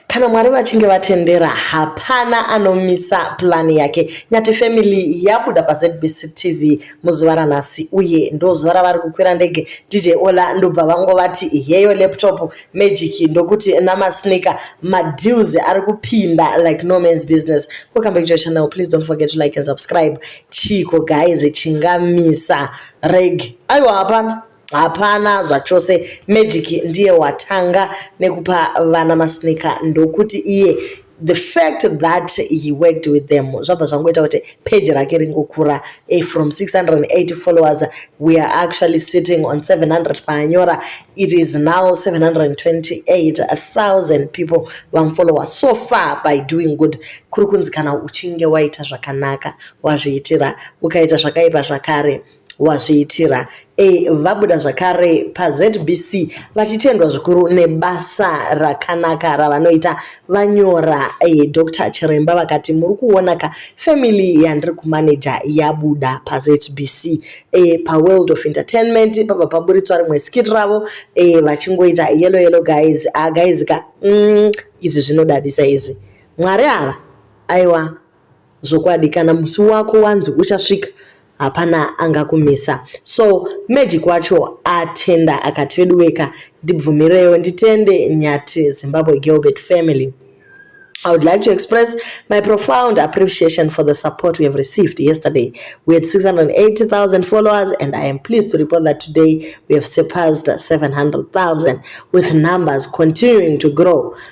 Kana Mwari vachinge vatendera hapana anomisa plan yake. Nyati family yabuda paZBC TV muzuva ranhasi uye ndozuva ravari kukwira ndege DJ Ola ndobva vango vati heyo laptop magic ndokuti namasneaker madeals ari kupinda like no man's business. Welcome back to your channel. Please don't forget to like and subscribe. Chiko guys chingamisa reg. Aiwa hapana. hapana zvachose magic ndiye watanga nekupa vana masneaker ndokuti iye the fact that he worked with them zvabva zvangoita kuti page rake ringokura eh, from 680 followers we are actually sitting on 700 paanyora it is now 728000 people vamufollower so far by doing good kuri kunzi kana uchinge waita zvakanaka wazviitira ukaita zvakaipa zvakare wazviitira e, vabuda zvakare pazbc vachitendwa zvikuru nebasa rakanaka ravanoita vanyora e, dr chiremba vakati muri kuona ka family yandiri kumaneja yabuda pazbc e, eh, paworld of entertainment pabva paburitswa rimwe skit ravo e, vachingoita yelo yelo guys a ah, guys ka mm, izvi zvinodadisa izvi mwari ava aiwa zvokwadi kana musi wako wanzi uchasvika hapana angakumisa so magic wacho atenda akati veduweka ndibvumirewo nditende nyati zimbabwe gilbert family I would like to express my profound appreciation for the support we have received yesterday. We had 680,000 followers, and I am pleased to report that today we have surpassed 700,000, with numbers continuing to grow.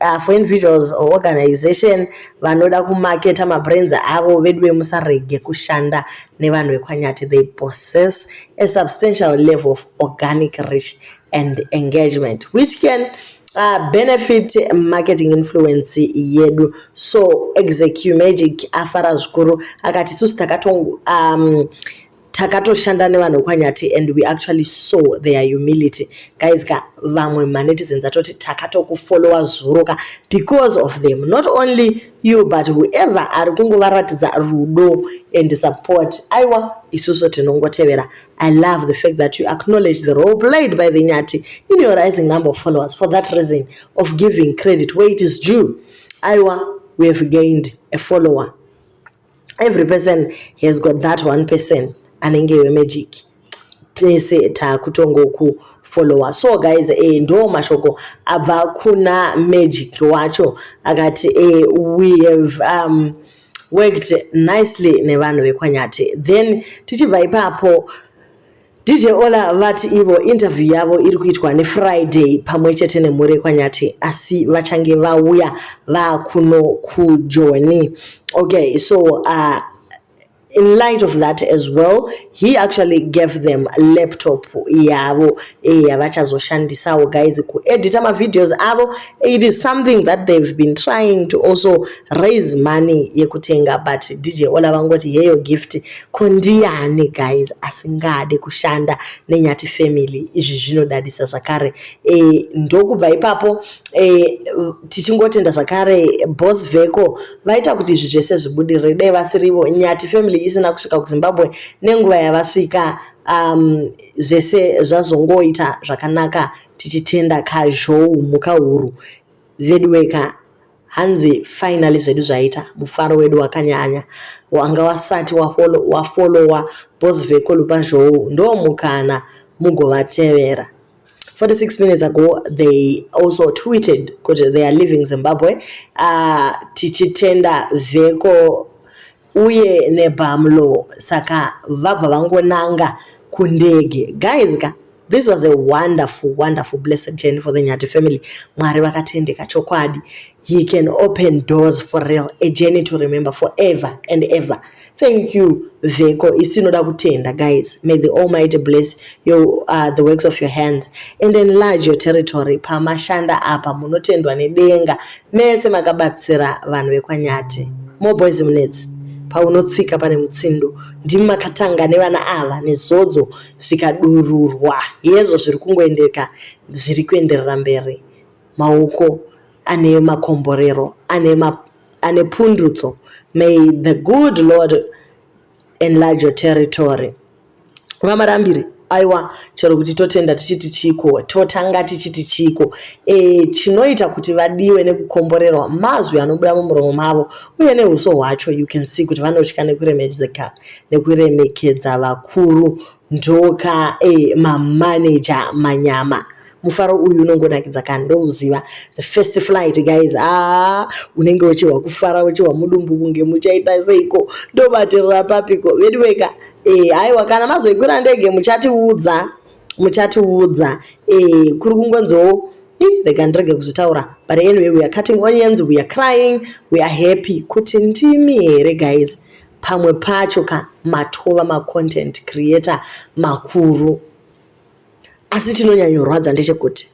uh, for individuals or organization vanoda kumaketa mabrands avo veduwe musarege kushanda nevanhu vekwanyati they possess a substantial level of organic reach and engagement which can uh, benefit marketing influence yedu so execu magic afara zvikuru akati isusu takatongo um, takatoshanda nevanhu kwanyati and we actually saw their humility guys ka vamwe manetizens atoti takatokufollowa zuro ka because of them not only you but whoever ari kungovaratidza rudo and support aiwa isusu tinongotevera i love the fact that you acknowledge the role played by the nyati in your rising number of followers for that reason of giving credit where it is due aiwa we have gained a follower every person has got that one person anenge wemagic tese takutongokufollowa so guys eh, ndo mashoko abva kuna magic wacho akati eh, we have um, worked nicely nevanhu vekwanyati then tichibva ipapo DJ Ola vati ivo interview yavo iri kuitwa neFriday pamwe chete nemhuri yekwanyati asi vachange vauya vakuno kujoni okay so uh, in light of that as well he actually gave them laptop yavo eh, yavachazoshandisawo guys kuedita mavideos avo it is something that they've been trying to also raise money yekutenga but dj ola vangoti yeyo gift Ko ndiani guys asingade kushanda neNyati family izvi zvinodadisa zvakare e, ndokubva ipapo e, tichingotenda zvakare boss veko vaita kuti izvi zvese zvibudirire dai vasirivo Nyati family isina kusvika kuZimbabwe nenguva yavasvika um, zvese zvazongoita zvakanaka tichitenda kazhou mhuka huru veduweka hanzi finally zvedu zvaita mufaro wedu wakanyanya wanga wasati wafolowa bos veko lupazhou ndo mukana mugovatevera 46 minutes ago they also tweeted kuti they are living zimbabwe uh, tichitenda veko uye nebamlo saka vabva vangonanga kundege guys ka this was a wonderful wonderful blessed journey for the nyati family mwari vakatendeka chokwadi he can open doors for real a journey to remember forever and ever thank you vheko isi inoda kutenda guys may the almighty bless your, uh, the works of your hand and enlarge your territory pamashanda apa munotendwa nedenga Mese makabatsira vanhu vekwanyati. More boys munetsi. Paunotsika pane mutsindo. Ndimi makatanga nevana ava nezodzo zvikadururwa. Hezvo zviri kungoendeka zviri kuenderera mberi. Mauko ane makomborero ane ma, ane pundutso. May the good Lord enlarge your territory vamarambiri aiwa chero kuti totenda tichiti chiko totanga tichiti chiko e, chinoita kuti vadiwe nekukomborerwa mazwi anobuda mumuromo mavo uye neuso hwacho you can see kuti vanotya nekuremekedza nekuremekedza vakuru ndoka e eh, mamaneja manyama mufaro uyu unongonakidza ka ndouziva the first flight guys ah unenge uchihwa kufara uchihwa mudumbu kunge muchaita seiko ndobatirira papiko veduweka e eh, aiwa kana mazoikwira ndege muchatiudza muchatiudza e eh, kuri kungonziwo rega ndirege kuzvitaura but anyway we are cutting onions we are crying we are happy kuti ndimi here guys pamwe pacho ka matova macontent creator makuru asi chinonyanyorwadza ndechekuti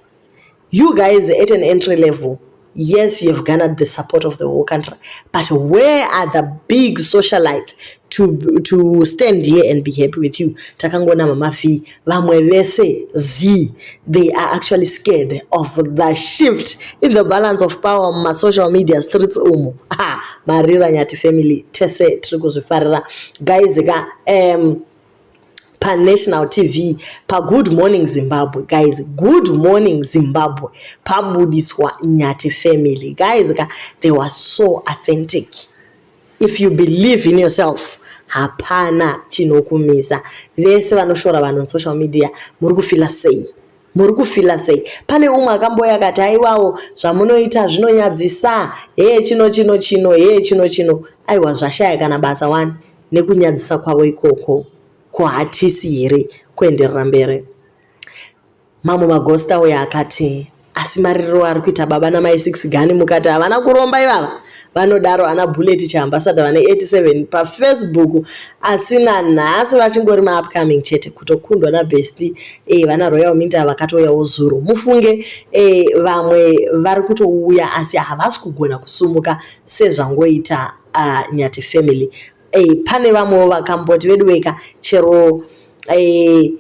you guys at an entry level yes you have garnered the support of the whole country but where are the big socialites to, to stand here and be happy with you takangonama mafii vamwe vese zii they are actually scared of the shift in the balance of power mumasocial media streets umu ha marira nyati family tese tiri kuzvifarira guys ka um, panational tv pagood morning zimbabwe guys good morning zimbabwe pabudiswa nyati family guys ka they were so authentic If you believe in yourself hapana chinokumisa. Vese vanoshora vanhu on social media muri kufila sei? muri kufila sei pane umwe akamboya akati aiwawo zvamunoita zvinonyadzisa hee chino chino chino hee chino chino aiwa zvashaya kana basa wani nekunyadzisa kwavo ikoko ko hatisi here kuenderera mberi Mamwe magosta auya akati, asi maririro ari kuita baba namai six gani mukati havana kuromba ivava vanodaro ana bullet chaambasada vane 87 pafacebook asi nanhasi vachingori maupcoming chete kutokundwa nabest e eh, vana royal minta vakatouyawo zuro mufunge e vamwe vari kutouya asi havasi kugona kusumuka sezvangoita ah, nyati family e pane vamwewo vakamboti veduweka chero e,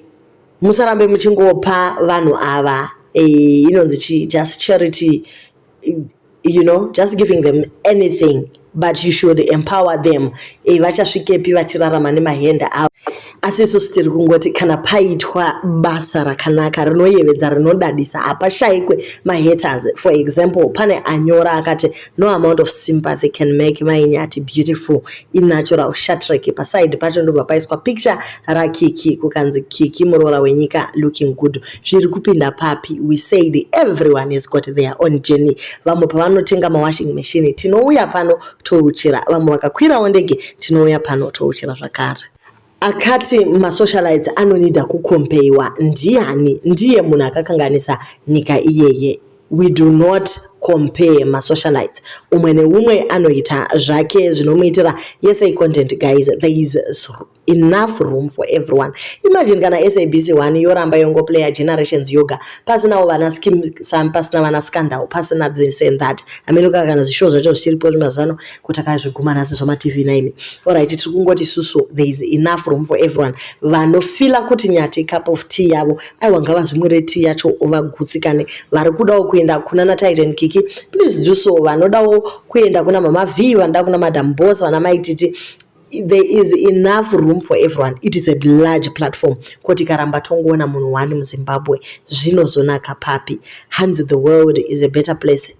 musarambe muchingopa vanhu ava eh, inonzi chi just charity you know just giving them anything but you should empower them eh, vachasvikepi vachirarama nemahenda avo asi isusu tiri kungoti kana paitwa basa rakanaka rinoyevedza rinodadisa hapashayikwe mahaters for example pane anyora akati no amount of sympathy can make mai nyati beautiful inatural shatrek paside pacho ndobva paiswa picture rakiki kukanzi kiki muroora wenyika looking good zviri kupinda papi we said everyone is got their own journey vamwe pavanotenga mawashing machine tinouya pano touchira vamwe vakakwirawo ndege tinouya pano touchira zvakare Akati masocialites anonida kukompeiwa ndiani? Ndiye munhu akakanganisa nyika iyeye. We do not compare masocialites. Umwe neumwe anoita zvake zvinomuitira yese icontent guys. There is enough room for everyone imagine kana sabc 1 yoramba yongoplaya generations yoga pasinawo vana skim sam pasina vana scandal pasina this and that amenoka kana zvishow zvacho zvichiripo mazano kutakazviguma nhasi zvamatv naimi orit tiri kungoti susu there is enough room for everyone vanofila kuti nyati cup of tea yavo aiwa ngavazvimwire tea yacho vagutsikane vari kudawo kuenda kuna natitan kiki please do so vanodawo kuenda kuna mama v vanoda kuna madam bos vana maititi there is enough room for everyone it is a large platform koti karamba tongoona munhu wani muzimbabwe zvinozonaka papi hanzi the world is a better place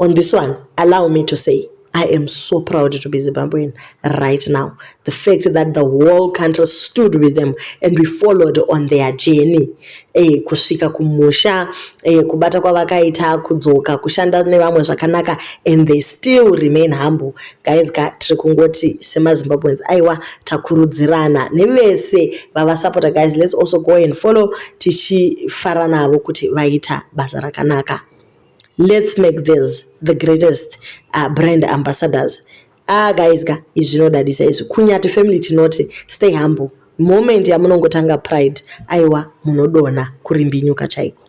On this one, allow me to say, I am so proud to be Zimbabwean right now. The fact that the whole country stood with them and we followed on their journey. Eh, kusvika kumusha, eh, kubata kwavakaita, kudzoka, kushanda nevamwe zvakanaka and they still remain humble. Guys, ka tiri kungoti semaZimbabweans aiwa takurudzirana nevese vavasapota guys let's also go and follow tichifara navo kuti vaita basa rakanaka. Let's make this the greatest uh, brand ambassadors. Ah, guys, ka, izvi zvinodadisa izvi. Kunyati family tinoti stay humble. Moment yamunongotanga pride, aiwa munodona kurimbinyuka chaiko.